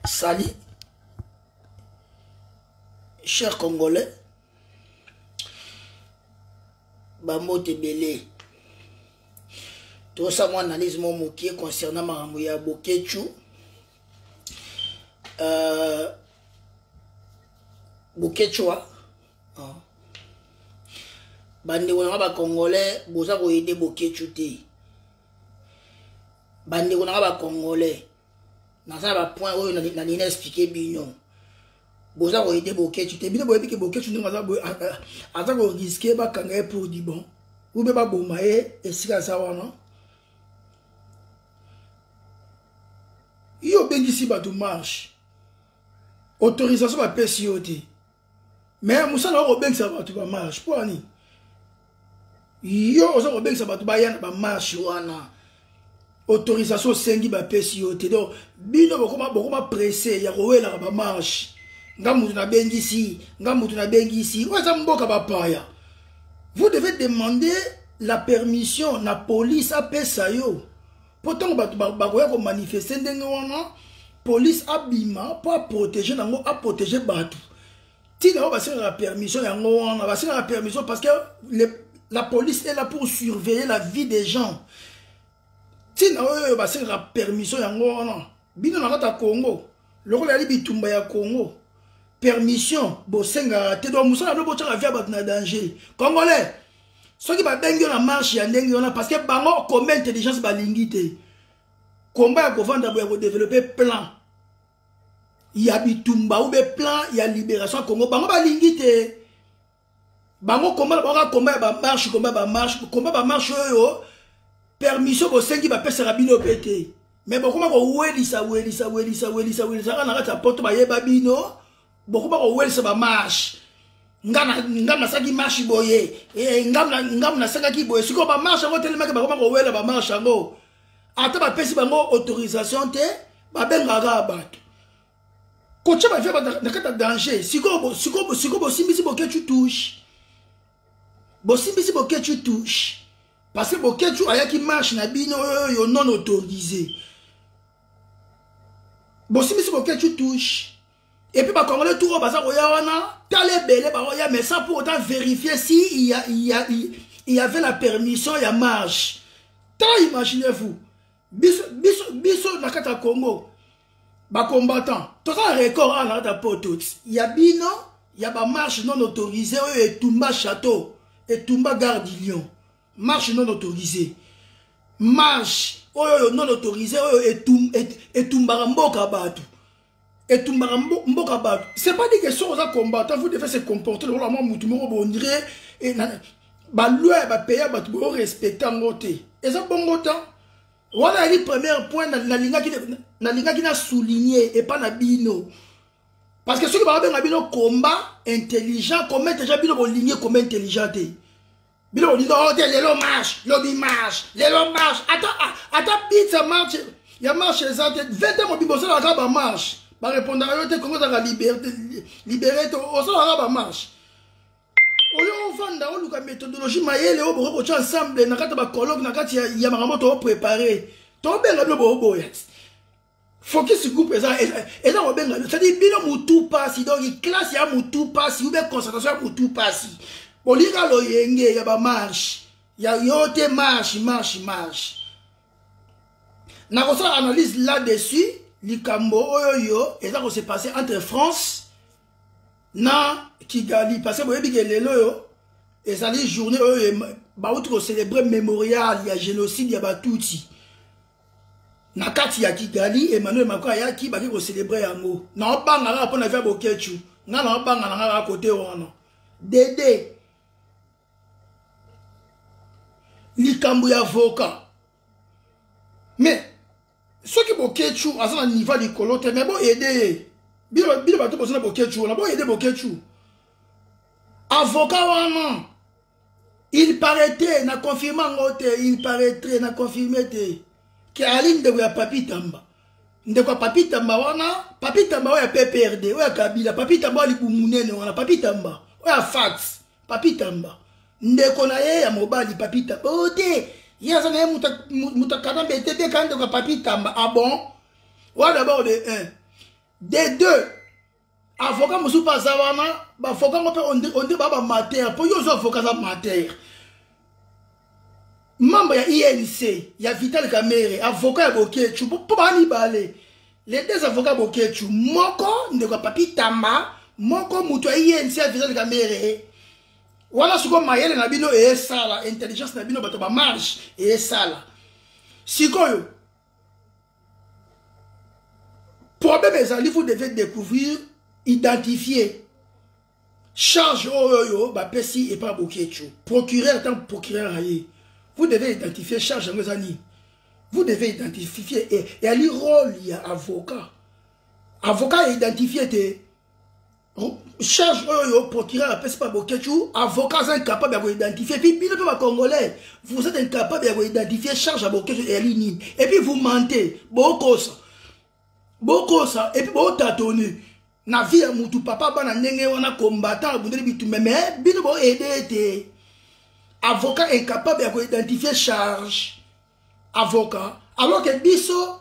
sali cher congolais bambote ebele tosa mwa analyse mo mokie concernant makambo ya bokechu uh, bokechua uh. bandeko na nga bacongolais boza koyede bokechu te bandeko na nga bacongolais naza na bapoint oyo nalingi na explike bino boza koyede boketshu te bino boyebi ke boketshu ndenge aza koriske bakanga ye pour du bon ube baboma ye esika aza wana yo obengisi bato marche autorisation bapesi yo te mais mosala oko bengisa bato ba marche mpo ani yo oza kobengisa bato baya na bamarche wana autorisation osengi bapesi yo te donc bino bokoma bokoma presse ya kowelaka bamarche nga moto nabengisi nga moto nabengisi oyo eza mboka bapaya vous devez demander la permission na police apesa yo mpo ntango bato bakoya komanifeste ndenge wana polise abima mpo aprotege nango aprotege bato ntina oyo basengaka permission yango wana basengaka permission parce que le, la police est là pour surveiller la vie des gens ntina oyo basengaka permission yango wana bino na kati ya congo lokola yali bitumba ya congo permission bosengaka te donc mosala no botyaka via bato na danger congolais soki babengi yo na marche ya ndenge wana parce que bango combe intelligence balingi te komba ya kovanda boya kodevelope plan ya bitumba ube plan ya libération ya congo bango balingi te bango komba baoka komba ya bamarche komba bamarche komba bamarche oyo permission bosengi bapesaka bino mpe te me bokoma kowelisa welisa welisa welisa welisa kaka na kati ya poto bayeba bino bokoma kowelisa bamarshe nga nasaki marshe boye eh, ngamu nasakaki boye sikoyo bamarshe yango telemaki bakoma kowela bamarshe yango ata bapesi bango autorisation te babengaka bato kotya bavia na kati ya danger sikoyo bosimbisi bokecu touche bosimbisi bokecu touche parce que bokecu ayaki marche na bino oyo non autorise bosimbisi bokecu touche epuis bacongolais tour oyo baza koya wana tala ebele baoya mais sans pour autant vérifier si il y, a, il, y a, il y avait la permission ya marche tala imaginez vous biso biso biso na kati ya congo bacombattant toza record awa na kati ya poto ya bino ya bamarche non autorise oyo etumba château etumba garde lion marche non autorise marche oyo oyo non autorise oyo etumbaka mboka bato etumbaka mboka bato c'est pas dit que soki oza combattant faut defa se comporter lokola mwa motu moko bondire eh, baloi ya bapays ya bato boyo respecte yango te eza bongo ta wana yaki première point nalingaki na souligne epa na bino parce que soki bakobenga bino combat intelligent combat intelligent bino bolingi combat intelligent te bino bolingi oh, te lelo marche lobi marche lelo marche ata ah, ata pizza marche ya marche eza te vete mobimba osalaka bamarche barépondaka yo te kongo ezalaka libere te osalaka bamarche oyo ofanda oluka méthodologie mayele oyo bokoki kotya ensemble na kati ya bacologue na kati ya makambo tooprépare tobenga bino booboya focus groupe eza eza kobenga bino cetadi bino motu mpasi donc classe ya motu mpasi ube concentration ya motu mpasi bolinga loyenge ya bamarshe ya yo te marshe marshe marshe nakosala analyse là dessus likambo oyo yo eza kose passe entre france na kigali parce que boyebi ke lelo oyo ezali journée oyo bauti kocelebre mémorial ya génocide ya batuti na kati ya kigali emmanuel macron ayaki baki kocelebre yango naobanga kaka mpo na via bokechu ngai naobanga na ngai kaka kote wana dede likambo ya avoka mais soki bokechu aza na niva likolo te mais boyede ye bino bato boza na bokechu wana boyede bokechu avoka wana il paraîtrait na confirme yango te il paraîtrait na confirme te ke ali ndeko ya papi tamba ndeko ya papi tamba wana papi tamba oyo ya pprd oyo ya kabila papi tamba oyo libu monene wana papi tamba oyo ya fax papi tamba ndeko na ye ya mobali papi tamba o oh, te ye aza na ye moto akanambe te te ka ndeko ya papi tamba abon ah wana dabord de un de deux avoka mosusu mpe aza wana bavoka ngo mpe onde baa bamatere mpo yo ozo avoka aza matere membre ya inc ya vital kamere avoka ya bokechu mpo baa mibale les deux avocats bokechu moko ndeko ya papi tamba moko moto ya inc ya vital kamere wana siko mayele na bino eyesala intelligence na bino bato bamarge eyesala sikoyo problème ezali vous devez découvrir identifier charge oyo oyo bapesi epa bokiecho procureur ntango procureur aye vous devez identifier charge yango eza nini vous devez identifier eyali role ya avocat avocat aidentifie te charge oyo oh, procureur apesi pa boketshu avocat aza incapable ya koidentifie epuis bino mpe bacongolais vous êtes incapable ya koidentifie charge ya boketshu eyali nini epuis vous mente bokosa bokosa epuis botatone na vie ya mutu papa bana ndenge wana combattant abundeli bitumbe me bino boaide ete avocat incapable ya koidentifie charge avocat alors ke biso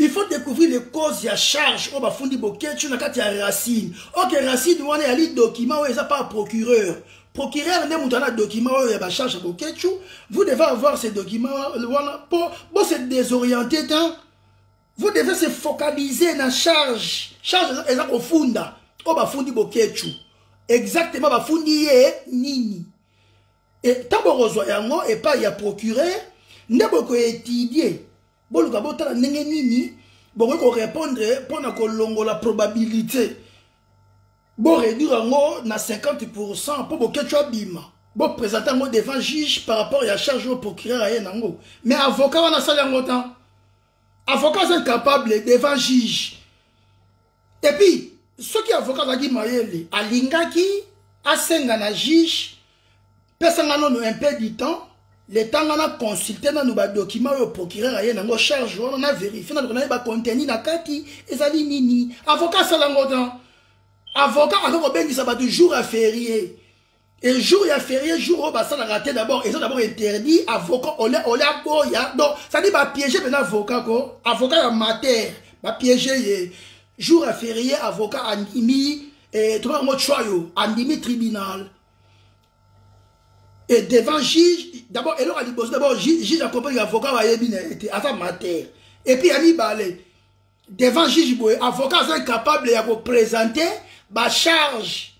il faut découvrir les causes ya charge oyo bafundi boketshu na kati ya racine oke racine wana eyali document oyo eza pa procureur procureur nde moto ana document oyo ya bacharge ya boketshu vous devez avoir ce document wana mpo bose désoriente ta vous devez se focaliser na charge charge eza kofunda oyo bafundi boketshu exactement bafundi ye nini ntango bokozwa yango epai ya procureur nde bokoetudie boluka botala ndenge nini bokoki korépondre mpo na kolongola probabilité boréduire yango na 50 pourcent mpo boketio abima boprésente yango devant juge par rapport ya charge oyo procureur aye nango mais avocat wana asali yango tan avocat aza incapable devant juge et puis soki avocat azalaki mayele alingaki asenga na juge pesa nga nono un peu du temps leta nga na consulte nanu badocument oyo procureur aye nango charge wana na verifie naluka naye bacontenu na kati ezali nini avocat asala yango tan avocat akoki kobengisa bato jour ya ferie Et jour ya férié jour oyo basalaka te d'abord eza d'abord interdit avocat ole ole aboya donc cetadi bapiége mpena avocat ko avocat ya mater bapiége ye jour ya férié avocat andimi eh, toba yango tshwayo andimi tribunal et devant juge d'abord eloko ya liboso d'abord juge akompani avocat bayebi na ye te aza mater et puis ya mibale devant juge boye avocat aza incapable ya koprésente bacharge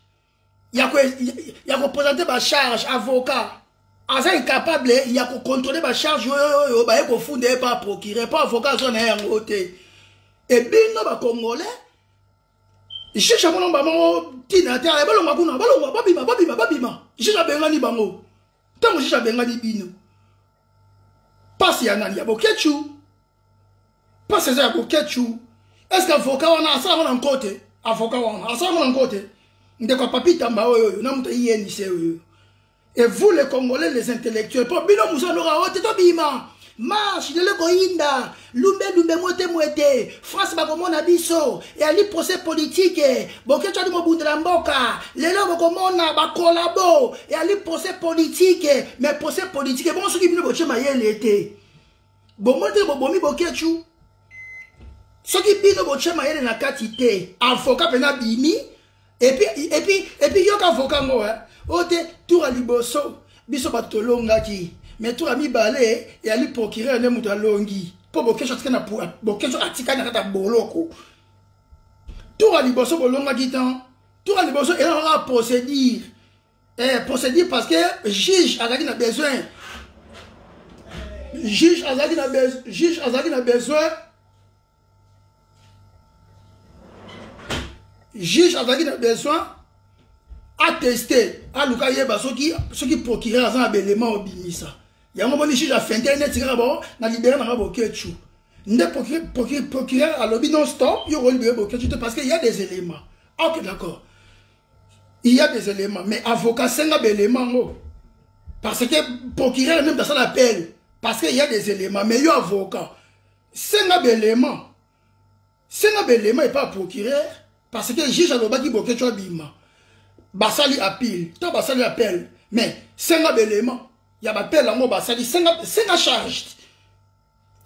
ya kopresente bacharge avocat aza incapable ya kocontrole bacharge oyo oyo baye kofunda ye pa procureur mpo avocat azwa na ye yango te ebino bacongolais juge amono bango ntina te ale balonga kuna balonga babima babima babima juge abengani bango ntango juge abengani bino mpasi ya nani ya boketshu mpasi eza ya boketshu eske avoka wana asalaka na nko te avoka wana asalaka na nko te ndeko ya papi tamba oyo oyo na moto ayenise oyo et vous les congolais les intellectuels mpo bino mosanoka oyo te tobima marche lelo koyinda lumbe lumbe motemo ete france bakomona biso eyali procès politike boketso ali mobundela mboka lelo bokomona bakolabo eyali procès politike mais procès politike bongo soki bino botie mayele ete bomoni ndenge bobomi boketshu soki bino botya mayele na kati te avoka mpenza bimi epuis yoka avoka ngo o oh, te tour ya liboso biso bato tolongaki me tour ya mibale eyali procureur nde moto alongi mpo bokesho atikali na kati ya boloko tour ya liboso bolongaki tan tour ya liboso ezalaka procédure eh, procédure parce que juge azalaki na besoin juge azalaki na juge azalaki na besoin juge azalaki na besoin ateste aluka yeba soki soki procureur aza na baelema obimisa yango moni juge afente neti kaka bao na libere nanga boketshu nde procureur alobi non stop yo okolibere boketshu te parce que ya des éléments ok d'accord il y a des éléments mais avocat senga ba éléments ngo parce que procureur même dans son appel parce que il y a des éléments mais yo avocat senga ba éléments senga ba éléments et pas procureur parce que juge alobaki boke tu abima basali appel to basali appel mais senga ba éléments ya ba appel ngo basali senga senga charge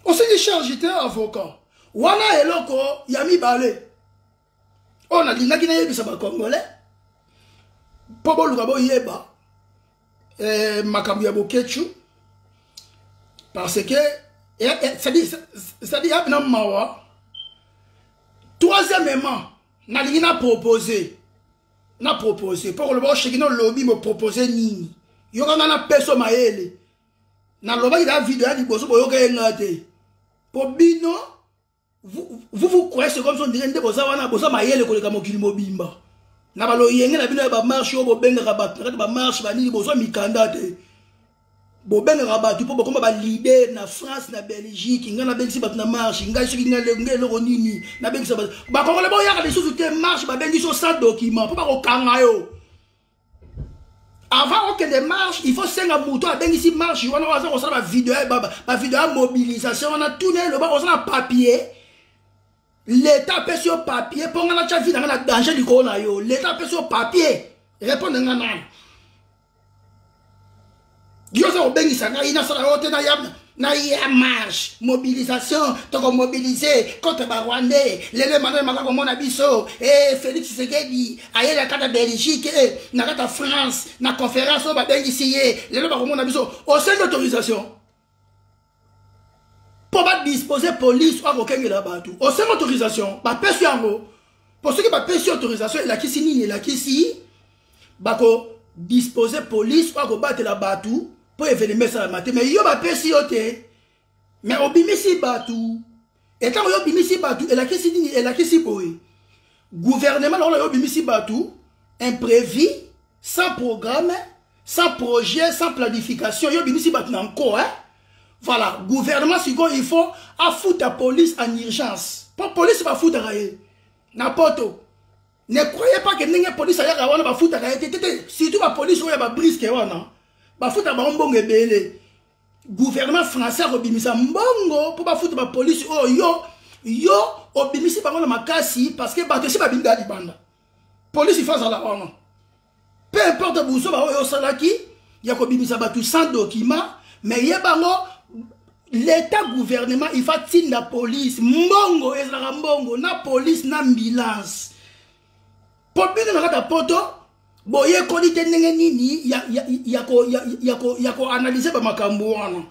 osali charge te avocat wana eloko ya mibale oyo nalingaki nayebisa bacongolais mpo boluka boyeba eh, makambo ya boketshu parce que eh, eh, cetadire yapi na mawa troisièmement nalingi na propose na propose mpo koloba osheki na olobi bopropose nini yoka ngai napeso mayele nalobaki na video ya liboso boyoka ye ngai te mpo bino vous vous croyez c'est comme ça ndenge nde boza wana boza mayele koleka mokili mobimba na baloyenge na bino ya bamarche oyo bobengaka bato na kati bamarche banini bozwa mikanda te bobengaka bato mpo bokoma balider na france na belgique ngai nabengisi bato na marche ngai soki ngai eloko nini nabengisa bato bakongole boyaka lisusu te marche babengisi yo sans document mpo bakokanga yo avant okende marche il faut senga moto abengisi marche wana oyo aza kosala bavideo ya mobilisation wana tuna eloba oza na papier leta apesi yo papier mpo ngai natya vi na ngai na danger likolo na yo leta apesi yo papier repondre ngai nani yo oza kobengisa ngai nasala yo te nayamna naya marche mobilisation tokomobilize contre barwandais lelo emmanuel maka komona biso e eh, félix sekedi ayeli akata belgique e eh, na kata france na conférence oyo babengisi ye lelo bakomona biso osengi autorisation mpo badispose polise oyo akokengela bato osenga autorisation bapesi yango mpo soki bapesi autorisation elakisi nini elakisi bakodispose polise oyo akobatela bato mpo evenema esalama te mai yo bapesi yo te mai obimisi bato e ntango yo obimisi bato elakisi nini elakisi boye guvernema na oyo yo obimisi bato imprévu sans programme sans projet sans planification yo obimisi bato na nko eh? voilà gouvernement sikoyo il faut afuta police en urgence mpo police bafutaka ye na poto ne croyez pas ke ndenge police ayaka wana bafutaka ye te te te surtout bapolice oyo ya babriske wana bafutaka bango mbongo ebele gouvernement français akobimisa mbongo mpo bafuta bapolisi oyo oh, yo yo obimisi bango na makasi parce que bato esi babimi ya libanda polisi fo azala wana peu importe buzoba oyo osalaki ya kobimisa bato sans document mais ye bango l'état gouvernement il faut atinda polise mbongo ezalaka mbongo na polise na ambulance po bino na kati ya poto boyekoli te ndenge nini ya koanalyse bamakambo wana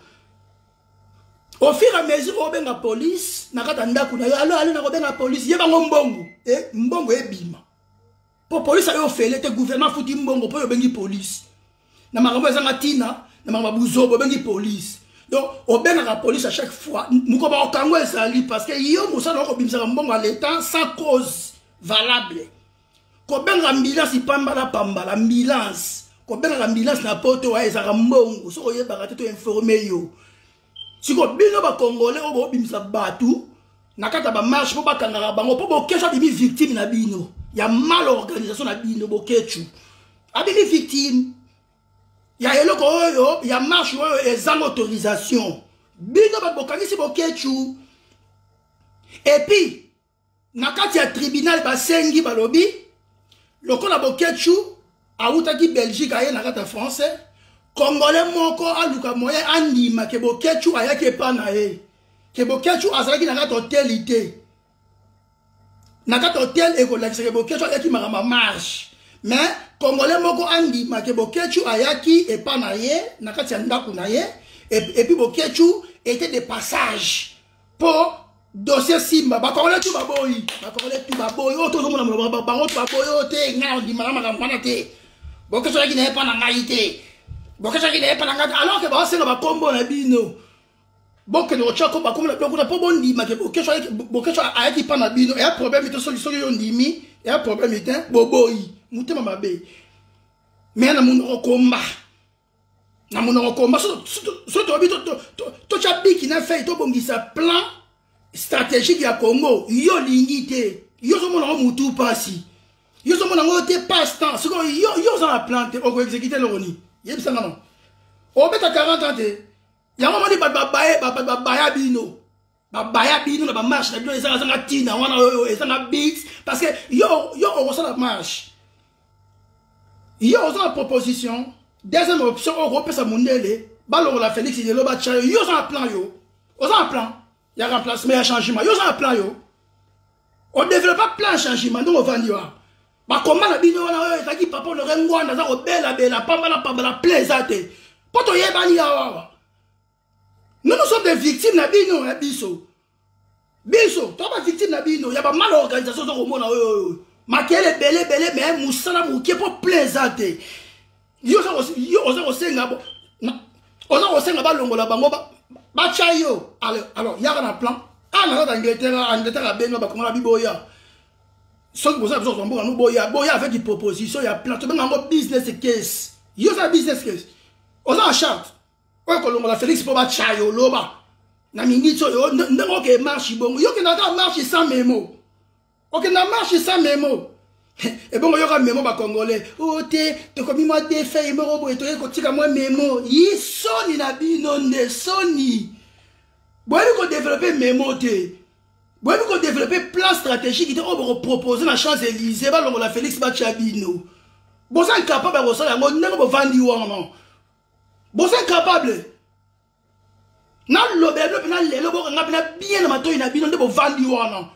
au fur à mesure obenga police na kati ya ndako na yo alo alo nakobenga police ye bango mbongo e mbongo ebima mpo police ayo ofele te gouvernement afuti mbongo mpo oyo obengi police na makambo ezanga ntina na makambo ya buzoba obengi polise donc obengaka polise à chaque fois mokoba okango ezali parce que yo mosala okobimisaka mbongo ya leta sans cause valable kobenga ambulance pambala pambala ambulance kobengaka ambulance na poto ezalaka mbongo soki oyebaka te to informe yo siko bino bakongole oyo bobimisa bato na kati ya bamarche mpo bakangaka bango mpo bokesho abimi victime na bino ya mal organisation na bino bokechu abimi victime ya eloko oyo ya marche oyo ezanga autorisation bino bato bokangisi bokechu epuis na kati ya tribunal basengi balobi lokola boketshu awutaki belgique aye na kati ya français kongole moko aluka moyen andima ke boketshu ayaki epa na ye ke boketshu azalaki na kati hoteli te na kati hotel ekolakisa ke boketshu ayaki makambo ya marche mais kongole moko andima ke boketshu ayaki epa na ye na kati ya ndako na ye epuis boketshu était de passage po dossier simba bakongole tu baboyi bakongole tu baboyi oyo tozomona bango tu baboyi oyo te ngai ondimaka makambo wana te bokesaki na ye mpa na ngai te bokesaki na ye mpa na ngai te alors ke baosenga bakombo na bino bokende kotya ko bakombo na bino kuna mpo bondima ke bokeso ayaki mpa na bino eya problème te soki soki yo ondimi eya problème te boboyi motema mabe me na monoko komba na monoko komba so toyebi totya biki na fei tobongisa plan stratégique ya congo yo olingi te yo ozomona yango motu mpasi yo ozomona yango te passe temps siko yo oza na plan te okoexekite eloko nini yebisa nga no obeta 40 ans te yango omoni bato babaya bino babaya bino na bamarche na bino ezanga zanga ntina wana oyo ezanga bit parce que yo yo okosala marche yo oza na proposition deuxième option oyo okopesa mondele balongola félix lelo batya yo yo oza na plan yo oza na plan ya remplacement ya changement yo oza na plan yo odevelopa plan ya changement ndenge ovandi wana bakoma na bino wana oyo ezalaki papa onore ngwanda aza kobelabela pambala pambala plan eza te mpo toyebani yawawa nous nous sommes des victimes na bino ya biso biso to ba victime na bino ya ba mal organisation ozo komona oyo oyo makele ebele ebele me mosala moke mpo plein eza te yo oza kosenga oza kosenga balongola bango batya yo alors yaka na plan a na kaka angleterre angleterre abenga bakongola biboya soki boza biso mboka no boya boya avec une proposition ya plan tobenga yango business case yo oza business case oza na charte oyo kolongola felix mpo batya yo loba na miniti oyo ndenge oke marche bongo yo okenda kaka marche sans memo okenda marche sans memo ebongo yoka memo bacongolais o oh, te tokomi mwa defei moko boye toyei kotika mwa memo yi soni na bino nde soni boyebi kodevelope memo te boyebi kodevelope plan stratégique te oyo oh, bokopropose na champs élysée balongola félix batya bino boza incapable ya kosala yango ndenge bovandi wana boza incapable nalobela bino mpena lelo bokanga mpena bien na matoi na bino nde bovandi wana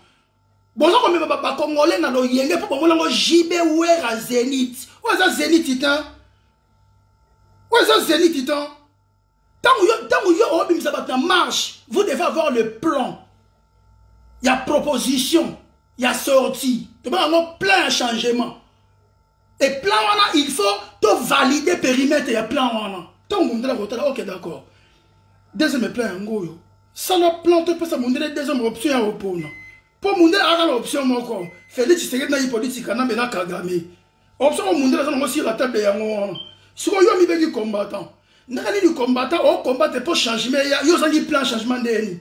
boza komema bakongole na loyenge mpo bomonango jb wera zenit oyo eza zenit te oyo eza zenit te ntango yo ntango yo obimisa bato na marche vous devez avoir le plan ya proposition ya sortie tobanga yango plan ya changement e plan wana il faut to valide perimetre ya plan wana ntango mondela kotala ok d'accord deuxième plan yango oyo sala plan topesa mondela deuxième option ya opona mpo mondela aka na option moko félix tshisekedi na hypolitique kanambe na kagame option oyo mondela aza nango sur la table yango wana sikoyo yo mibeki combattant ndenge nini combattant ocombatre mpo changement eya yo ozangi plan changement ndeni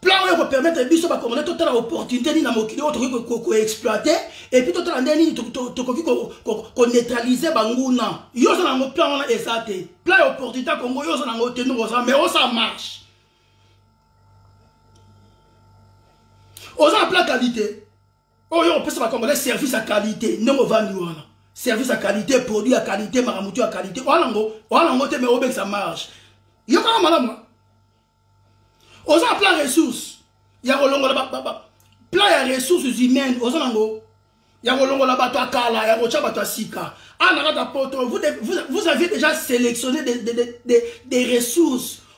plan oyo ekopermettre biso bakongolais totala opportunité nini na mokili oyo tokoki koexploite epuis totala nde nini tokoki koneutralize banguna yo oza nango plan wana eza te plan ya opportunité ya kongo yo oza nango te ndongo oza mais osa marche oza na plan qualité oyo oh, opesa bakongolais service ya qualité ndenge ovandi wana service ya qualité produit ya qualité makamutu ya qualité wana ngo wana ngo te me obekisa marge yokaka malamu oza na plan ressource ya kolongola plan ya ressources humaines oza nango ya kolongola bato ya kala ya kotya bato ya sika ana ah, kaka poto vous, vous, vous aviez déjà sélectionné des, des, des, des ressources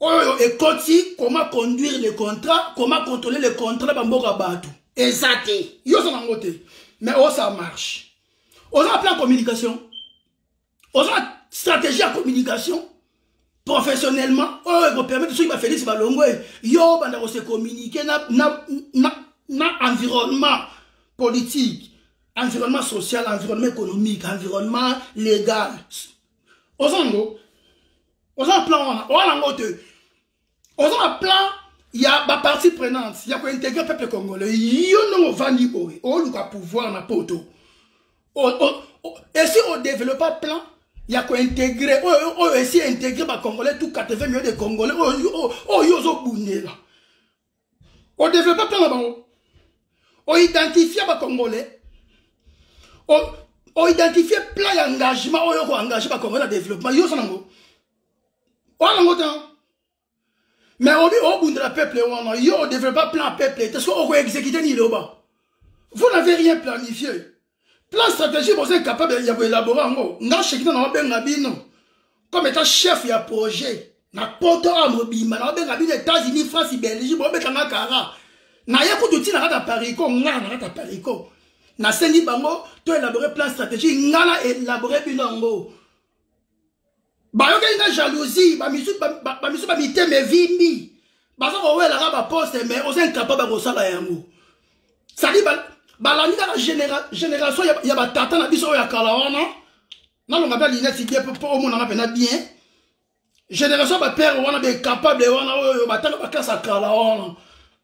oyo ekoti comment conduire le contrat comment contrôler le contrat na bamboka bato eza te yo oza nango te mais oyo ça marche oza na plan ya communication oza na stratégie ya communication professionnellement oyo ekopermettre soki bafélix balongo e yo obanda kose communiquer na, na, na, na environnement politique environnement social environnement économique environnement légal oza yango oza na plan wana oza nango te oza na plan ya bapartie prenante ya kointegre peuple congolais yo ndenge ovandi boye oluka pouvoir na poto esi odevelopa plan ya kointegre oyo oyo esi integre bacongolais tout 80 million de congolais oyo yo ozobundela o développer plan na bango o identifier ba congolais o, o identifier plan ya engagement oyo ko engager ba congolais na développement yo sana ngo oya nango te mais obi obundela peuple wana yo o développer plan ya peuple te soki oko exécuter nini loba vous n'avez rien planifié plan stratégie boza incapable ya koelabore yango nga shekina naobenga bino comme étant chef ya projet na poto awa mobimba naobenga bino états-unis france belgique bobetanga kara naye kutu ntina kaka parico nga na kaka parico nasengi bango toelabore plan stratégie nga na elabore bino yango bayokeli nga jalousie bamisu ba, ba, ba, ba mitema evimbi baza kowelaka baposte mais oza incapable ya kosala yango sadi balandi kaka génération ya batata na biso oyo ya kala wana nalonga mpe lineti bien mpo omonana mpena bien génération ya bapere wana baincapable wana oyo batanga baklase ya kala wana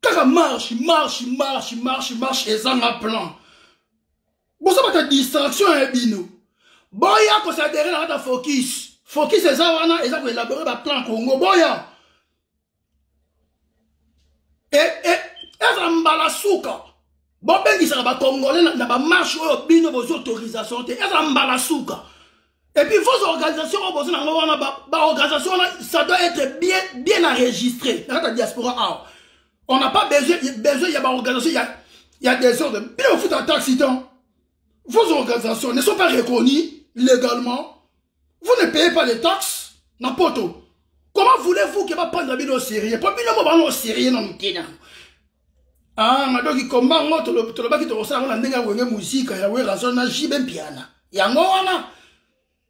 kaka marche marche marche marche marche ezanga plan boza bata distraction ya bino boya kosadere na kata focus focus eza wana eza koelabore baplan congo boya e, e, ezala mbala suka bobengisaka bacongolais na, na bamarche oyo bino bozwi autorisation te eza mbala suka epuis vos organisation oyo boza nango wana baorganisation wana ça doit être bien, bien enregistré na kati ya diaspora awa on n'a pas besoin, besoin ya baorganisation ya, ya desordre bino bofuta taxe temps vos organisations ne sont pas reconnues légalement Vous ne payez pas les taxes na poto. Comment voulez-vous que va prendre bino au sérieux Po bino mo bango au sérieux na mukena. Ah, na doki komba ngo tolo tolo baki tolo sala na ndenge ya wenge musika ya wera zona jibe mpiana. Yango wana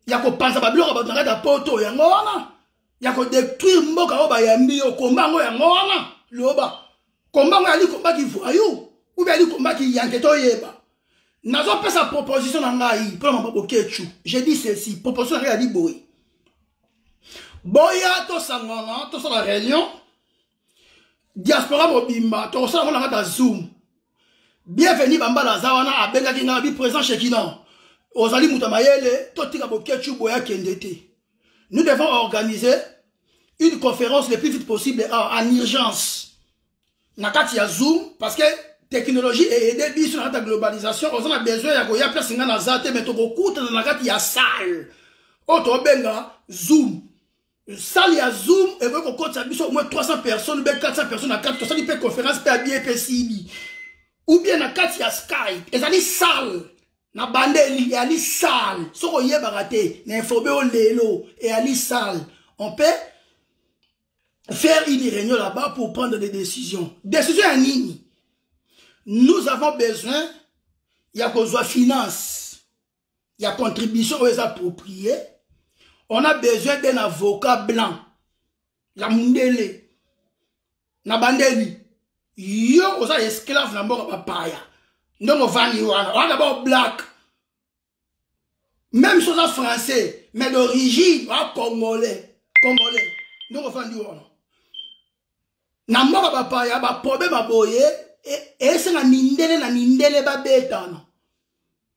ya kopanza babiloko bato na kati ya poto yango wana ya ko détruire mboka oyo bayambi yo komba yango yango wana loba komba yango yali komba ki voyou ou bien yali komba ki yanke toyeba nazopesa proposition na ngai mpo na maboko kechu je dis ceci proposition na ngai yali boye boya tosangana tosala réunion diaspora mobimba tokosala ngo na kati ya zoom bienvenu bambala aza wana abengaki ngai abi présent shekina ozali moto ya mayele totika boketshu boye akende te nous devons organiser une conférence le plus vite possible en urgence na kati ya zoom parce que technologie eede biso na kati ya globalisation oza na besoin ya koya place ngai naza te mai tokokutana na kati ya salle oyo tobenga zoom salle ya zoom ekoki kokotisa biso au moins 300 personnes be 400 personnes na kati tosali mpe conférence mpe abie mpe sibi ou bien na kati ya skype ezali salle na bandeli eyali salle soki oyebaka te na informe yo lelo eyali salle on peut faire une réunion là-bas pour prendre des décisions décision ya nini nous avons besoin ya kozwa finance ya contribution oyo eza approprié on a besoin d'un avocat blanc ya mundele na bandeli yo oza esclave na mboka bapaya ndenge ovandi wana wana bao black même si oza français mais d'origine oa congolais congolais ndenge ovandi wana na mboka bapaya baproblème ya boye esenga mindele na mindele babetana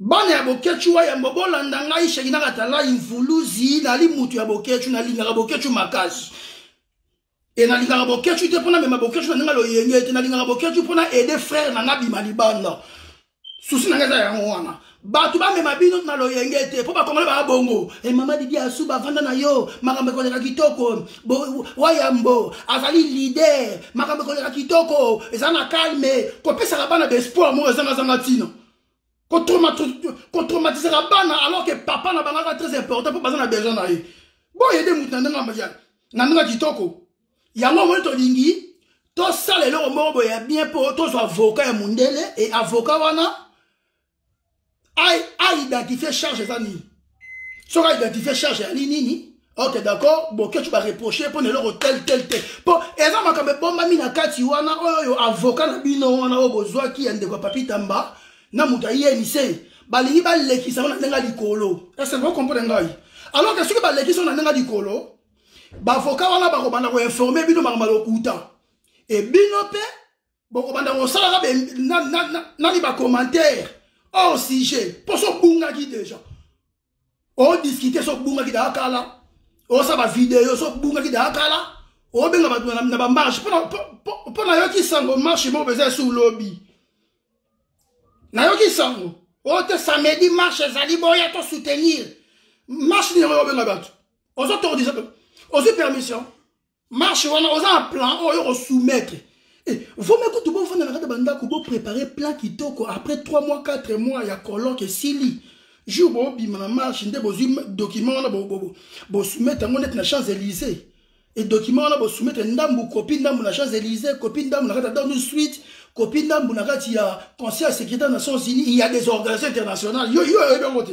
bana ya boketshu wayambo bolanda ngai shekina katala imvuluzi nali mutu ya boketshu nalingaka boketshu makasi e nalingaka boketshu te mpona mema boketshu na ndenge loyenge te nalingaka boketshu mpona aide frere na nga bima libanda susi na ngai eza yango wana bato bamema bino na loyenge te mpo bakongole baa bongo e mama didi asu bavanda na yo makambo ekoleka kitoko wayambo azali lider makambo ekoleka kitoko eza na calme kopesaka bana baespoir moko ezangazanga ntina kotraumatisaka bana alors que papa na bangaka très important mpo baza na besoin na ye boyede moto na ndenge na ndenge kitoko yango omoni tolingi tosala eloko moko boye ya bien mpo tozwa avoka ya mondele e avoka wana a identifier charge eza nini soki a identifier charge ya nini ok d'accord bokecu bareproche mpo na eloko tel tel te mpo eza makambo ebombami na kati wana oyo oyo avoka na bino wana oyo bozwaki ya ndeko ya papi tamba na moto ya inc balingi balekisa yango na ndenge ya likolo esenge okomprene ngai alors ke soki balekisi yango na ndenge ya likolo bavoka wana bakobanda koinforme bino makambo ya lokuta ebino mpe bokobanda kosalaka nani bacommentaire or sujet mpo so obungaki déjà odiscute so obungaki daa kala osa bavideo so obungaki daa kala obenga bato na bamarche mpo nayoki sango marche moko mpenza esi lobi nayoki sango oyo te samedi marche ezali boya to soutenir marche nini yango obenga bato ozotordisa ozwi permission marche wana oza na plan oyo oko soumettre eh, vome kutu bofanda na kati ya bandako boprépare plan kitoko après 3 mois 4 mois ya colloque esili jour bobima na marche nde bozwi document wana bosoumettre yango neti na champs élysée e document wana bosoumettre ndambu kopi ndambu na champs élysée kopi ndambu na kati ya downing street kopi ndambu na kati ya conseil ya sécurité ya nations unis ya des organisations internationales yo yo oyebi yango te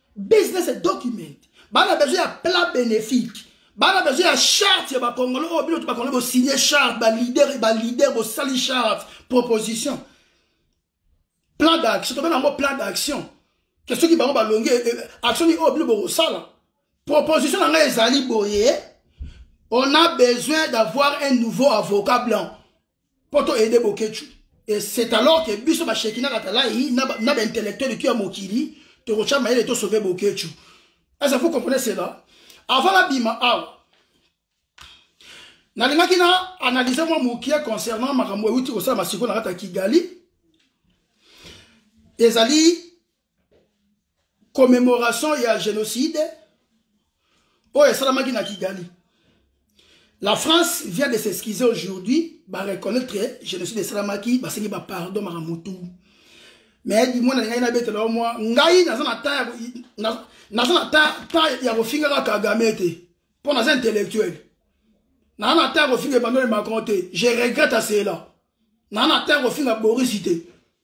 business et document bana besoin ya plat bénéfique bana besoin ya charte ya bakongolo oyo oh, bino to bakongolo bosigne charte balider balider bosali charte proposition plan d'action tobenga yango plan d'action ke soki bango balongi eh, eh, action nini oyo oh, bino bokosala proposition na ngai ezali boye on a besoin d'avoir un nouveau avocat blanc mpo to aide boketshu et c'est alors que biso bashekina katalayi na baintellectuel tu ya mokili tokotya mayele tosauve boketshu eza vous comprenez cela avant nabima awa nalingaki na analyse mwa mokie concernant makambo euti kosala masiko na kati ya kigali ezali commémoration ya génocide oyo esalamaki na kigali la france vient de s'excuser aujourd'hui bareconnaitre que génocide esalamaki basengi bapardon makamutu mais dimwa na ngai nabetela yo mwa ngai naza na ta naza na ta ya kofingaka kagame te mpo naza intellectuel naza na ta ya kofinga emmanuel macron te je regrette cela naza na ta ya kofinga boris te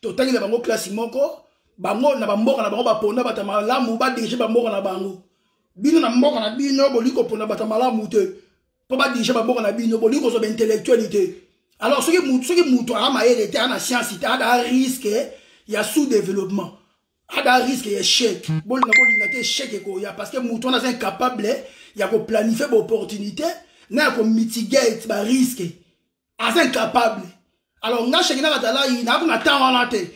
totangi na bango klasi moko bango na bamboka na bango baponda bato ya malamu badirige bamboka na bango bino na mboka na bino bolingi kopona bato ya malamu te mpo badirige bamboka na bino bolingi kozwa baintellectuele te alors soki soki moto aa mayele te aa na siansi te ada riske ya sous développement ada riske ya échec bolinga bolinga te échec ekoya parce que moto wana aza incapable ya koplanifie baopportunité na ya komitigate bariske aza incapable alors nga sheki na katalayi naako na temps wana te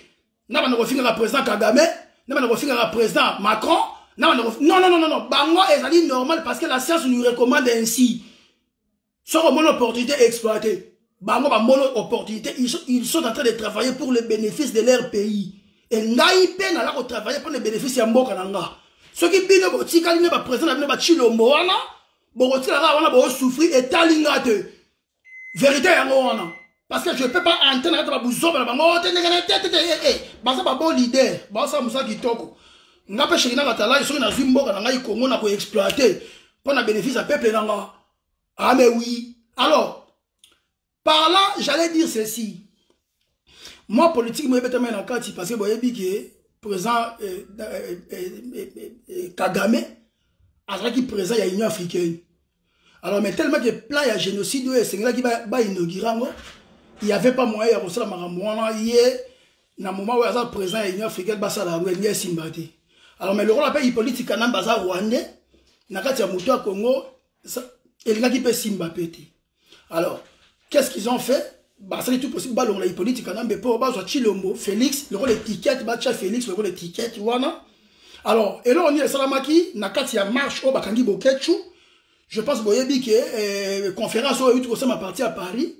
na banda kofingaka président kagame na banda kofingaka président macron na banda kof... non, non, non, non. bango ezali normal parce que la science nous recommande ainsi soki omoni opportunité exploité bango bamoni opportunité ils sont en train de travailler pour le bénéfice de leur pays e ngai mpe naza kotravaille mpo na bénéfice ya mboka na nga soki bino botikali nde baprésident na bino bacilombo wana bokotikala kaka wana bosouffrir etali nga te verité yango wana parce que je peux pas entrer na kati ya babuzoba na bango te ndenge na te te te eh, eh. baza babo leader baosala mosala kitoko nga mpe sheki na katalai soki nazwi mboka na ngai kongo na koexploite mpo na bénéfice ya peuple na nga ah mais oui alors par là j'allais dire ceci mwa politiki mo ebetami na kati parce que boyebi ke président eh, eh, eh, eh, kagame azalaki président ya union africaine alors mais tellement que plan ya génocide oyo esengelaki bainaugure yango il y avait pas moyen ya kosala makambo wana ye na moment oyo aza président ya union africaine basala yango elingi esimba te alors mais lokola mpe ipoliti kanambe aza rwandais na kati ya moto ya congo elingaki mpe esimba mpe te alors qu'est ce qu'ils ont fait basali tout possible balongola hippolyte kanambe mpo bazwa chilombo félix lokola etiquette batya félix lokola etiquette wana alors eloko nini esalamaki na kati ya marche oyo bakangi boketshu je pense boyebi ke eh, conférence oyo euti kosama parti ya paris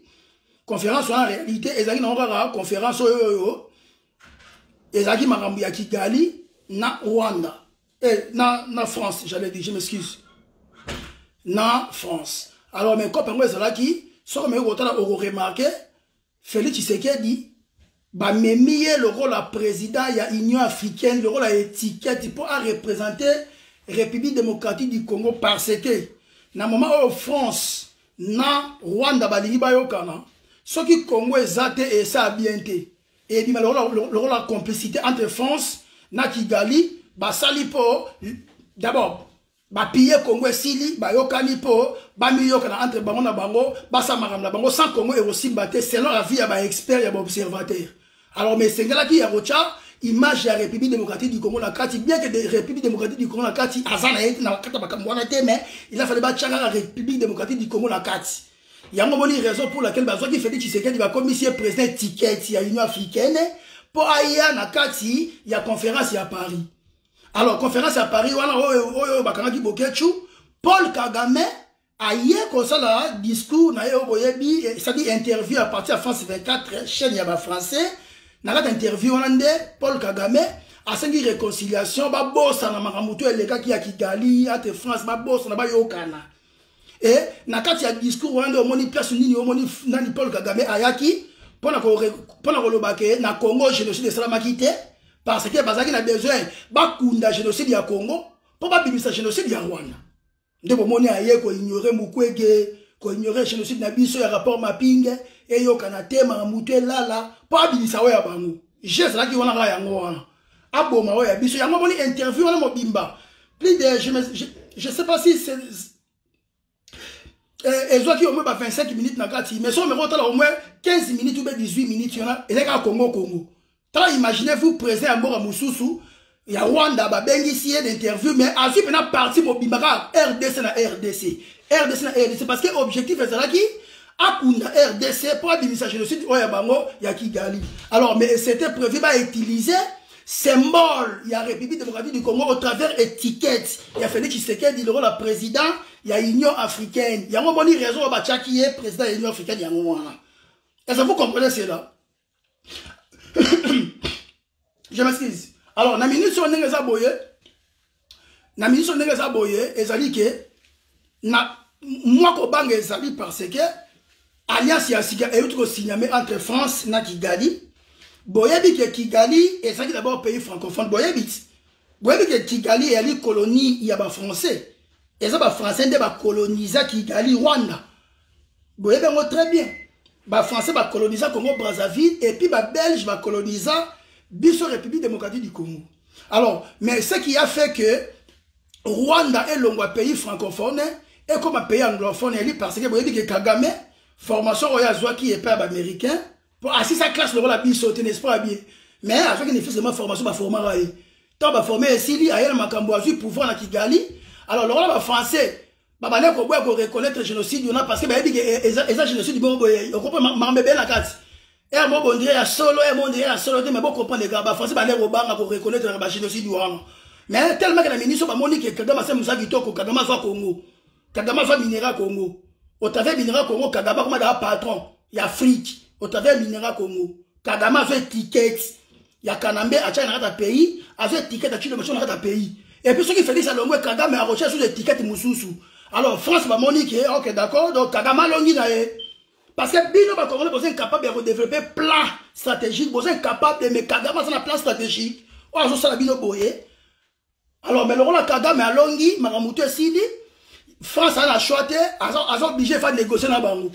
conférence wana réalité ezalaki nango kaka conférence oyo oyo ezalaki makambo ya kigali na rwanda eh, na, na france j'avais dit je m'excuse na france alors mais cope yango ezalaki soki omeki kotala okoremarke félix tshisekedi bamemi ye lokola président ya union africaine lokola étiquette mpo arepresente république démocratique du congo parce que na moment oyo france na rwanda balingi bayokana soki congo eza te esala bien te ebima lokola complicité entre france na kigali basali mpo d'abord bapiye congo esili bayokani mpo bamiyokana entre bango na bango basala makambo na bango sans congo ekosimba te selon la vie ya baexpert ya baobservateur alors mais esengelaki ya kotya image ya république démocratique du congo na kati bien que de république démocratique du congo na kati aza na ye na kati ya makambo wana te mais il a fale batyaka république démocratique du congo na kati yango moni raison pour laquelle bazwaki félix tshisekedi bakomisi ye président étiquette ya union africaine mpo aya na kati ya conférence ya paris alors conférence ya paris wana oyo bakangaki boketshu paul kagame aye kosala discours na ye oyo boyebi esaki eh, interview ya parti ya france 24 chaîne ya bafrançais na kati ya interview wana nde paul kagame asengi réconciliation babosana makambo to elekaki ya kigali ate france babosana bayokana e na kati ya discours wana nde omoni place nini omoni nani paul kagame ayaki mpo na koloba ke na congo génocide esalamaki te parce que bazalaki na besoin bakunda génocide ya congo mpo babimisa génocide ya rwanda nde bomoni aye koignore mukwege koignore génocide na biso ya rapport mapinge eyokana te makambo to elala mpo abimisa oyo ya bango je ezalaki wana kaka yango wana aboma oyo ya biso yango omoni interview wana mobimba plus de je, me, je, je sais pas si c'est eh, ezwaki au moins ba 25 minutes na kati mais soki omeka otala au moins 15 minutes ou 18 minutes wana ezali kaka congo congo tala imaginez vous présent ya mboka mosusu ya rwanda babengisi ye d'interview mais azwi mpena parti mobimba kaka rdc na rdc rdc na rdc parce que objectif ezalaki akunda rdc mpo abimisa génocide oyo ya bango ya kigali alors mais c'était prévu bautiliser symbole ya république démocratique du congo au travers étiquette ya félix tshisekedi lokola président ya union africaine yango omoni raison oyo batyaki ye président ya union africaine yango wana est ce que vous comprenez cela je m'excuse alors na minute oyo ndenge eza boye na minute oyo ndenge eza boye ezali ke na mwa kobanga ezali parce que alliance ya sika euti kosigname entre france na kigali boyebi ke kigali ezalaki d'abord pays francophone boyebi ti boyebi ke kigali eyali colonie ya bafrançais eza bafrançais nde bakolonisa kigali rwanda boyebi yango très bien bafrançais bakolonisa congo brazzaville epuis babelge bakolonisa biso république démocratique du congo alors mais ce qui a fait que rwanda elongwa pays francophone ekoma pays anglophone eyali parce que boyebi ke kagame formation oyo azwaki epai ya baaméricain po asisa classe lokola biso te n'est-ce pas bien mais azwaki ne fils ma formation baformaka ye ntango baforme esili aye na makambo azwi pouvoir na kigali alors lokola bafrançais babandaki koboya koreconnaitre génocide wana parce que bayebi ke eh, eza génocide bongo boye okopo makambo ebele na kati ere moko bondire ya solo ere mondire ya solo te mais bokomprendre kaka bafrançais bandeki kobanga koreconnaitre na bagénocide wana mais tellement ke na miniso bamoni ke kagame asali mosala kitoko kagame azwa congo kagame aza minera congo otave minera congo kagame akoma daa patron ya afrique otave minera congo kagame azo etiquette ya kanambe atyaki na kati ya pays azo etiquette atyi lomoso na kati ya pays epuis soki félix alongwe kagame akotyaki susu etiquette mosusu alors france bamoni ke ok d'accord donc kagame alongi na ye parce que bino bakongole boza incapable ya kodeveloppe plan stratégique boza incapable mais kagame aza na plan stratégique oyo azosala bino boye alors mais lokola kagame alongi makambo to esili france aza na choix te aza oblige fa négocier na bango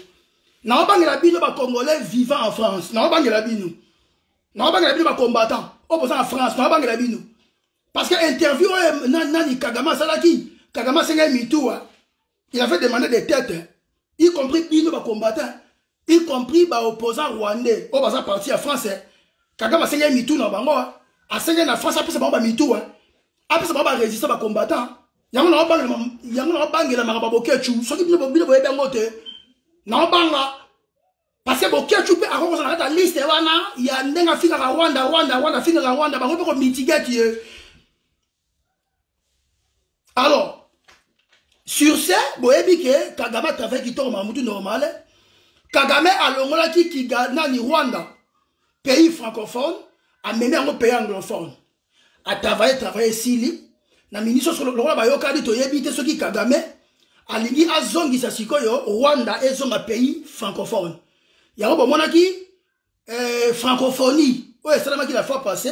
naobangela bino bacongolais vivant en france naobangela bino naobangela bino bacombattant oyo boza na france naobangela bino parce que interview oyo nani kagame asalaki kagame asengeli mituwa il avait demandé des têtes hein? y compris bino bacombattant y compris baopposant rwandais oyo baza parti ya france hein? kagame asengi ye mitu na bango asengi na france apesa bango bamitu apesa bango barésistant bacombattant yango naobangela makambo ya bokechu soki bino boyebi yango te naobanga parce que bokechu mpe akoki kozala kati ya liste wana ya ndenge afingaka rwanda rwanda rwanda afingaka rwanda bango mpe komitigate ye alors sur ce boyebi ke kagame atravai kitoko mamutu normale kagame alongolaki kiga nani rwanda pays francophone amemi yango pays anglophone atavaye travaille esili na ministre oso lokola bayokani toyebi te soki kagame alingi azongisa sikoyo rwanda ezonga pays francophone yango bomonaki eh, francophonie oyo esalamaki la fois passé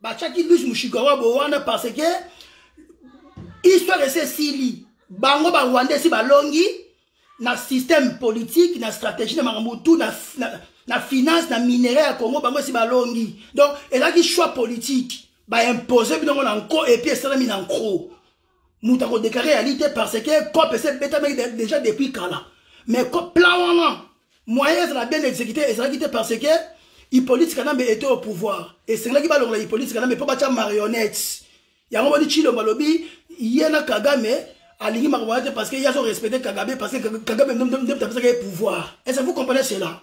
batiaki luis mushikawa bo wana parce que histoire esi esili bango barwanda esi balongi na système politique na stratégie na makambo tout na, na, na finance na minerai ya congo bango esi balongi donc ezalaki choix politique baimpose binongo na nko epuis esalami na nko moto akodeklare ya lite parce que cop ese ebetamaki déjà depuis kala mais plan wana moyen ezala bien exécuté ezalaki te parce que hippolyte kanambe était au pouvoir esengelaki balongola hippolyte kanambe mpo batya marionnette yango boni chilombo alobi ye na kagame alingi makambo wana te parce que ye azo respecte kagame parce que kagame nde apesaka ye pouvoir est ce que vous comprenez cela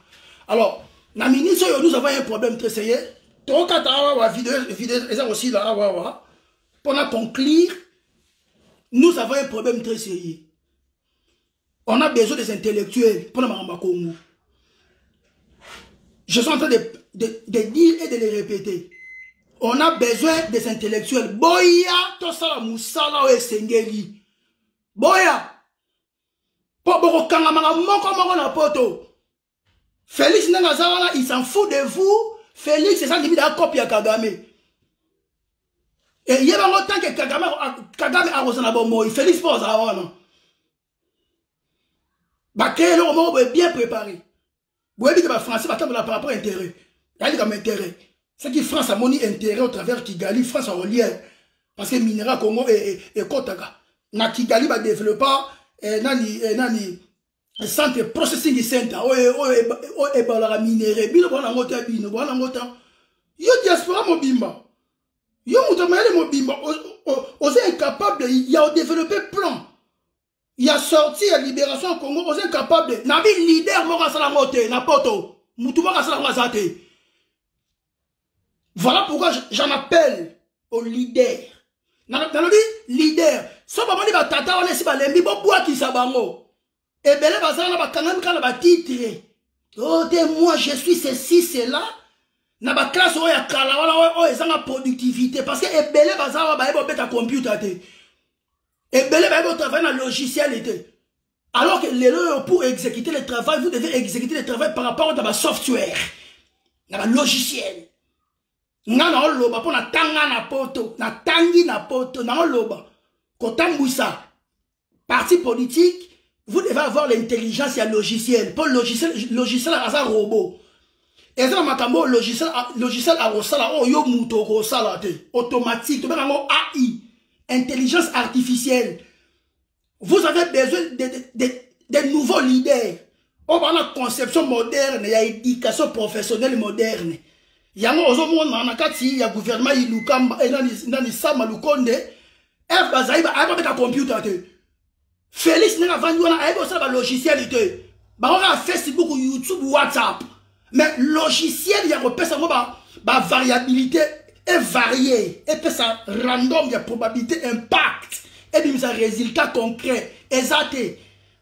alors na ministre oyo nous avons un problème te seye tokata awa video eza kosila awa awa Pour na conclure, nous avons un problème très sérieux. On a besoin des intellectuels pour le Congo. Je suis en train de, de, de dire et de les répéter. On a besoin des intellectuels. Boya, tout ça, moussala, et sengeli. Boya, po bokokanga maka moko moko na poto Felix nanga aza wana il s'en fout de vous Felix eza ndimi da copie ya Kagame eye bango tant que Kagame Kagame akoza na bomoi Felix po azala wana ba créer eloko moko boye bien préparé boyebi te ba français batambola par rapport intérêt yali kama intérêt soki france amoni intérêt au travers kigali france akolia parce que minera congo ekotaka na kigali badeveloppa eh, nani eh, nani centre processing center oyo oyo ebalaka minere bino bwana yango te bino bwana yango ta yo diaspora mobimba yo moto mayele mobimba oza incapable ya odeveloppe plan ya sorti ya libération ya congo oza incapable na bi leader moko asala yango te na poto motu moko asala yango aza te Voilà pourquoi j'en appelle au leader. nalobi leader so bamoni batata wana esi balembi bobwakisa bango ebele bazala na bakangami kaka na batitre o oh, te moi je suis ceci cela na baklasse oyo ya kala wana oyo ezanga productivité parce que ebele bazala baye bobeta computer te ebele baye botravaille na logiciel te Alors que lelo pour exécuter le travail, vous devez exécuter le travail par rapport à ba software, na ba logiciel. Nga na oloba po na tanga na poto, na tangi na poto, na oloba. Kotambuisa parti politique, vous devez avoir l'intelligence ya logiciel. Po logiciel logiciel aza robot. eza na makambo oyo logiciel akosala oyo yo moto okosala te automatique tobengaka yango ai intelligence artificielle vous avez besoin de, de, de, de nouveaux leaders oyo baa na conception moderne ya éducation professionnelle moderne yango ozomona na kati ya gouvernement ilukamba eh, nani sama lukonde eve bazali ayebi babeta computer te félix ndenge avandi wana ayebi kosala balogiciel te bango kaka facebook youtube whatsapp mais logiciel ya kopesa yango bavariabilité ba evarie epesa random ya probabilité impact ebimisa résultat concret eza te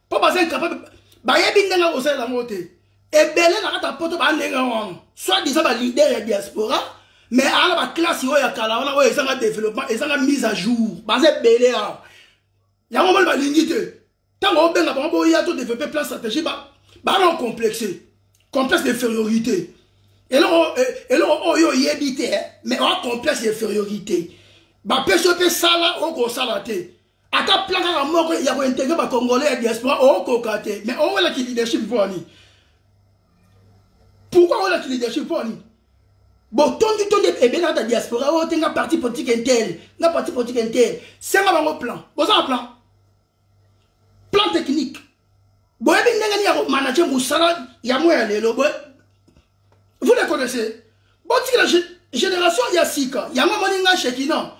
mpo baza incapable bayebi ndenge ya kosalela yango te ebele na kati ya poto baa ndenge wana soit disant balider ya diaspora mais aa na baklasse oyo ya kala wana oyo ezanga développement ezanga mise à jour baza ebele awa yango moni balingi te ntango obenga bango boya to développe plan stratégie baana complexe complexe d'infériorité eloko eh, eloko oyo oyebi te eh, mais oa complexe d'infériorité bapesi yo mpe sala okosala te ata plan kaka moko ya kointegre bacongolais ya diaspora okoka te mais owela ki leadership mpo ani pourkui owela ki leadership mpo ani botondi tondi ebele kaka diaspora oyo te nga parti politique intel nga parti politique intel senga bango plan boza na plan plan technique boyebi ndenge nini ya komanage mosala ya moya lelo boye vous le connaissez botikela génération ya sika yango amoni ngai shekina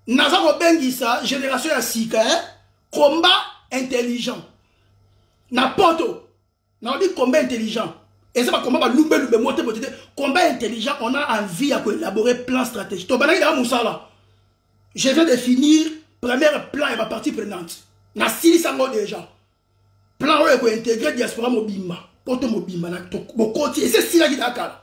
naza kobengisa génération ya sika eh? combat intelligent na poto Na odi combat intelligent. Et ça va combat ba lumbe lumbe moté moté. Combat intelligent, on a envie à élaborer plan stratégique. To banaki da musala. Je viens de finir premier plan et ma partie prenante. Na sili sango déjà. Plan oyo ko intégrer diaspora mobimba. Poto mobimba na to bokoti. Et c'est sila ki dakala.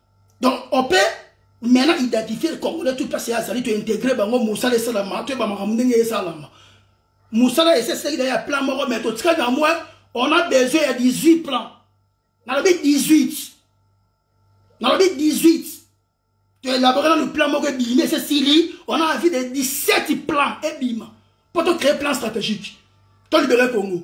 donc on peut maintenant identifier congolais tout place azali tointegre bango mosala esalama toyeba makambo ndenge esalama mosala eseseki na ya plan moko mais totika na moi on a besoin ya 18 plan nalobi 18 nalobi 18 toelabore nanu plan moko ebimi esesili on a envie de 17 plan ebima mpo tocree plan stratégique tolibere congo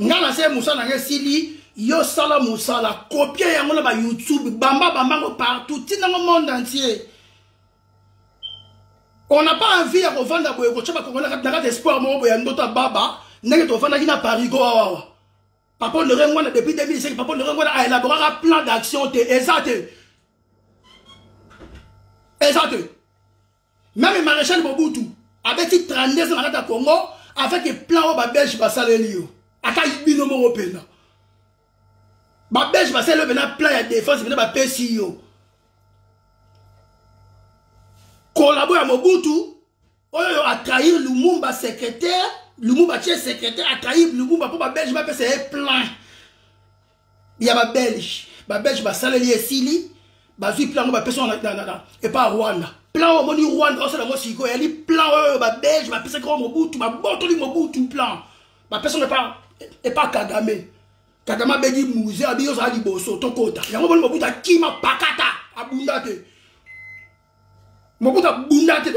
nga na se mosala na nga esili yo sala mosala kopie yango na bayoutube bamba bamba yango partout ntina ngo monde entier on n'a pas envie ya kovanda boye kotya bakongo na kati espoir moko boye ya ndoto ya baba ndenge tofandaki na parigo awawa papa lerengo wana depuis 2005 papa lerengo wana aelaboraka plan d'action te eza te eza te meme maréchal mobutu abeti 32 ans na kati ya congo avec eplan oyo babelge basaleli yo ata bino moko mpenza babelge basaleli yo mpena plan ya défense mpena bapesi yo kolabo ya mobutu oyo atrahir lumumba secrétaire lumumba tie secrétaire atrahir lumumba mpo babelge bapesa ye plein ya ba belge ba belge basaleli esili bazwi plan yango bapesi yango epa rwanda plan oyo omoni rwanda osala yango sikoyo eyali plan oyo ba belge bapesaki yango mobutu babotoli mobutu plan bapesi yango epa kagame kagame abegi muze abi ozala liboso tokota yango omoni mobutu akima pakata abunda te mobutu abunda te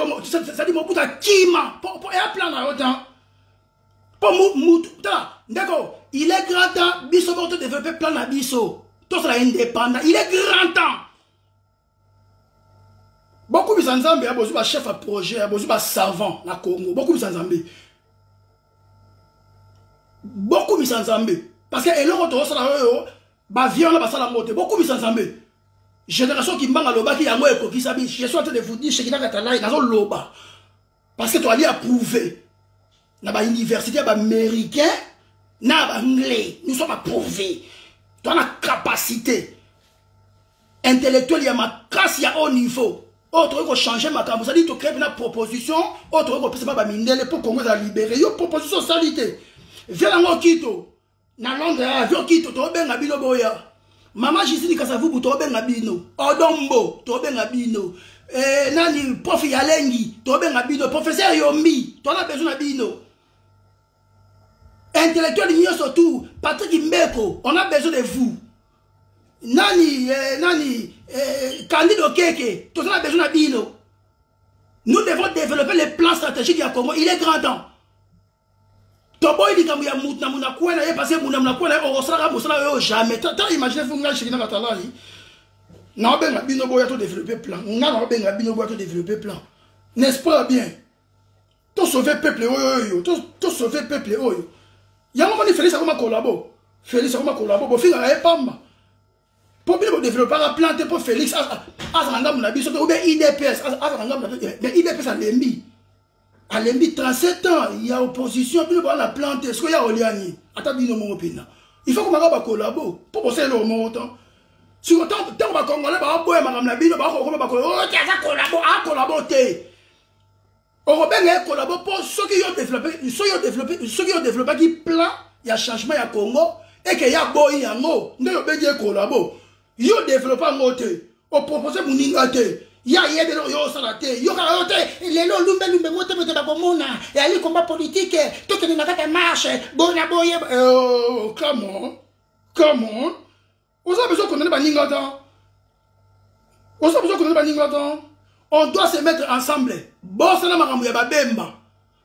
sadi mobutu akima eya plan na yo te po mutu tala ndeko il est grand temps biso moko todeveloppe plan na biso tozala indépendant il est grand temps bokumisa nzambe ya bozwi bachef ya projet ya bozwi basavant na congo bokumisa nzambe bokumisa nzambe parce que eloko tozosala oyo bavie wana basala yango te bokumisa nzambe génération kimbanga alobaki yango ekokisa bi je suis en train de vous dire shekinaka talai nazoloba parce que toali approuve na ba université ya ba américain na ba anglais nous sommes approuve toa na capacité intellectuel ya makasi ya haut niveau oyo tokoki kochange makambo ozali tocree mpena proposition oyo tokoki kopesa mpa bamindele mpo kongo ezala libere yo proposition osali te via yango okito na londre ya avion kito tobenga bino boya mama gisini kasavubu tobenga bino odombo tobenga bino eh, nani profi ya lengi tobenga bino professeur yombi toza besoin na bino intellectuel nyonso tout patrick mbeko on a besoin de vous nani eh, nani eh, candide okeke toza na besoin na bino nous devons développer les plans stratégiques ya congo il est grand temps toboyi likambo ya mutu na munakue na ye parce que muna munakue na ye okosalaka mosala yo jamais ta imagine fo ngai shekina katalai naobenga bino boya to développe plan ngai naobenga bino boya to développe plan n'est-ce pas bien to sauve peuple oyo to sauve peuple oyo yango moni félix akoma kolabo félix akoma kolabo bofingaka ye pamba mpo bino bodeveloppaka plan te mpo félix azala ngambo na biso te obe idps azala ngambo na biso mais idps alembi alembi 37 ans ya opposition bino boza na plan te soki ya olia nini ata bino moko mpena il faut komaka bakolabo mpo bosala eloko moko tan siko ntango bakongole bakoboya makambo na bino bakokoma bakolo oyo te aza kolabo akolabo te okobenga ye kolabo mpo soki yo develope soki yo develope soki yo developaki plan ya changement ya congo eke ya boyi yango nde obengi ye kolabo yo develope yango te opropose moninga te ya yebi eloko yo osala te yokaka yo te lelo olumbelumbe mote mote bakomona eyali komba politike tokende na kati ya marche boye na boye oh, come on come on oza besoin condamne baninga te oza besoin condamne baninga te on doit se mettre ensemble bosana makambo ya babemba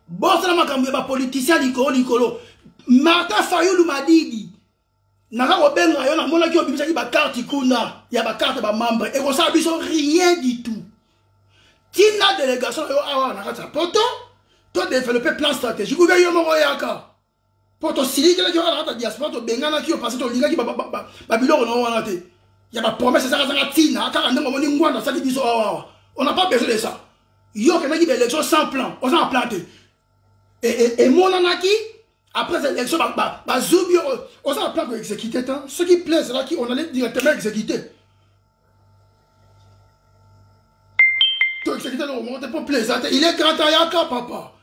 bosana makambo ya bapoliticien likolo likolo martin fayulu madidi naza kobenga yo namonaki obimisaki bakarte kuna ya bakarte bamembre ekosala biso rien du tout tina delegation na yo awa na kati ya poto to developpe plan stratégique oubia yo moko yaka mpo tosilikelaki wana kaka diaspora tobenganaki yo parce tolingaki babiloko nao wana te ya bapromese ezakazaka ntina kaka ndenge omoni ngwanda asali biso awawa on n'a pas besoin de ça yo okendaki baélection sans plan oza na plan te emonanaki après élection bazubi oza na plan koexécute te soki plan ezalaki on allait directement exécute toexécute eloko moko te mpo plan eza te il est grand ayaka papa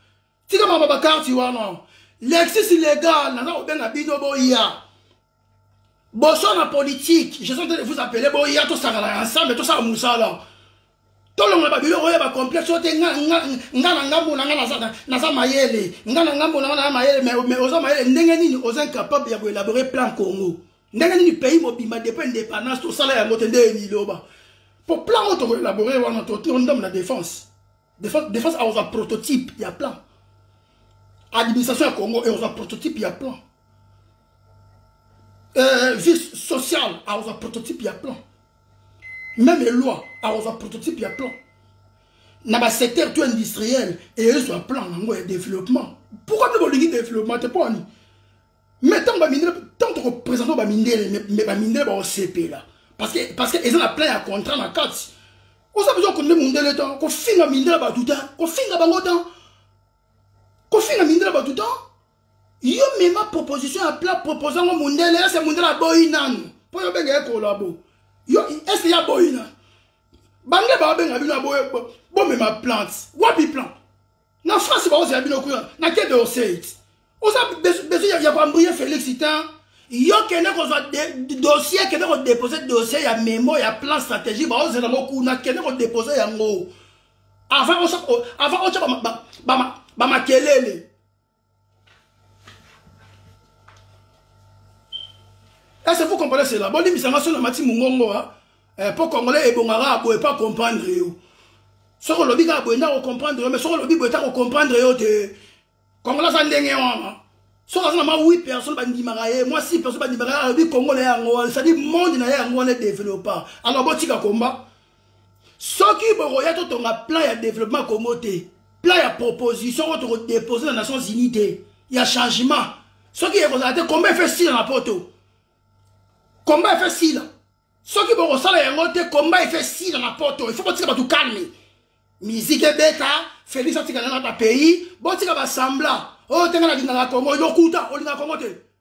tika mama bakarti wana lexis legal naza kobenga bino boya boso na politike je sont de vous appeler boya tosangana ensemble tosala mosala tolongola babiloko oyo bacomplexe oyo te nga na ngambo na nga naza mayele nga na ngambo na nga naza mayele mais oza mayele ndenge nini oza incapable ya koelabore plan congo ndenge nini pays mobimba depuis indépendance tosala yango te nde eniloba po plan oyo tokoelabore wana tondambo na défense defense akozwa prototype ya plan administration ya congo ekozwa prototype ya plan euh, vie sociale akozwa prototype ya plan même eloi akozwa prototype ya plan na basecteur to industriel eyezwa plan yango ya développement pourquoi nde bolingi développement te mpo ani mais ntango bamindele ntango tokopresente bamindele me bamindele baosepela parce que eza na plein ya contrat na kati oza besoin konde mondele tan kofinga mindela bato tan kofinga bango tan kofinga mindela bato tan yo mema proposition ya plat proposa ngo mondele ese mondele aboyi nanu mpo yo benga ye kolabo yo ese ye aboyi nanu bange baobenga bino bomema plante wapi plante na france bakozela bino kuna na kebe oseit oza besoin ya koambrie félix te yo kende kozwa dossier kende kodepose dossier ya memo ya plan stratégie baozela ngo kuna kende kodepose yango avant otya bamakelele Est-ce que vous comprenez cela Bon, limisa nga sona mati mungongo hein. eh, po congolais ebongaka aboye pa comprendre yo. Soko lobi ka aboye ndako comprendre yo, mais soko lobi boye ta ko comprendre yo te. Congolais za ndenge wana. Soko azana ma 8 personnes bandimaka ye, moi 6 personnes bandimaka ye, lobi congolais yango, c'est-à-dire monde na ye yango wana développa. Alors botika combat. soki bokoya totonga plan ya développement ya congo te plan ya proposition oyo tokodepose na nations unis te ya changement soki ekozala te komba efe sila na poto komba efe sila soki bokosala yango te komba efe sila na poto ifo botika bato kalme miziki ebeta félix atika nanga na pays botika basambla oyo oh, te nga nalingaka congo lokuta olingaka congo te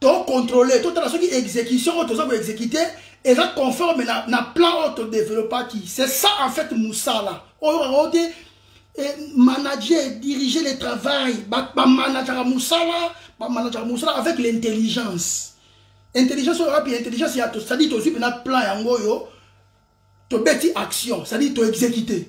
to contrôler totala soki exécution oyo toza koexécute eza conforme na, na plan oyo todeveloppaki c'est ça en fait mosala oyo yango te eh, manager dirige le travail bamanajaka mosala bamanajaka mosala avec l'intelligence intelligence oyo wapi intelligence ya cestadire tozwi mpena plan yango oyo tobeti action cestadire toexécute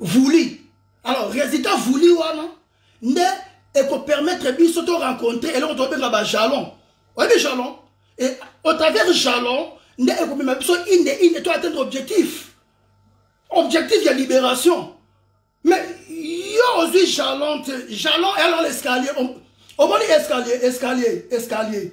voulu alors résultat voulu wana nde ekopermettre biso to rencontre eloko tobenga bajalon oyebi jalon e, au travers jalon nde ekomema biso inde inde to atteindre objectif objectif ya libération mais yo ozwi jalon te jalon elor escalier omoni escalier escalier escalier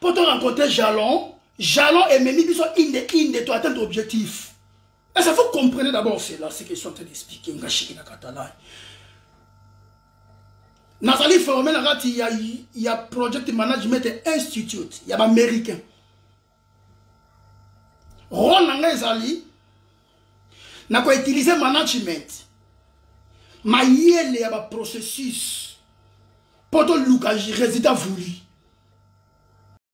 mpo to rencontre jalon jalon ememi biso inde inde to atteindre objectif est ce faut comprenez d'abord cela ce qu'ils sont en train d'expliquer nga shiki na catalan nazali forme na kati ya, ya project management institute ya baaméricain role na ngai ezali na ko utiliser management mayele ya ba processus mpo toluka résultat voulu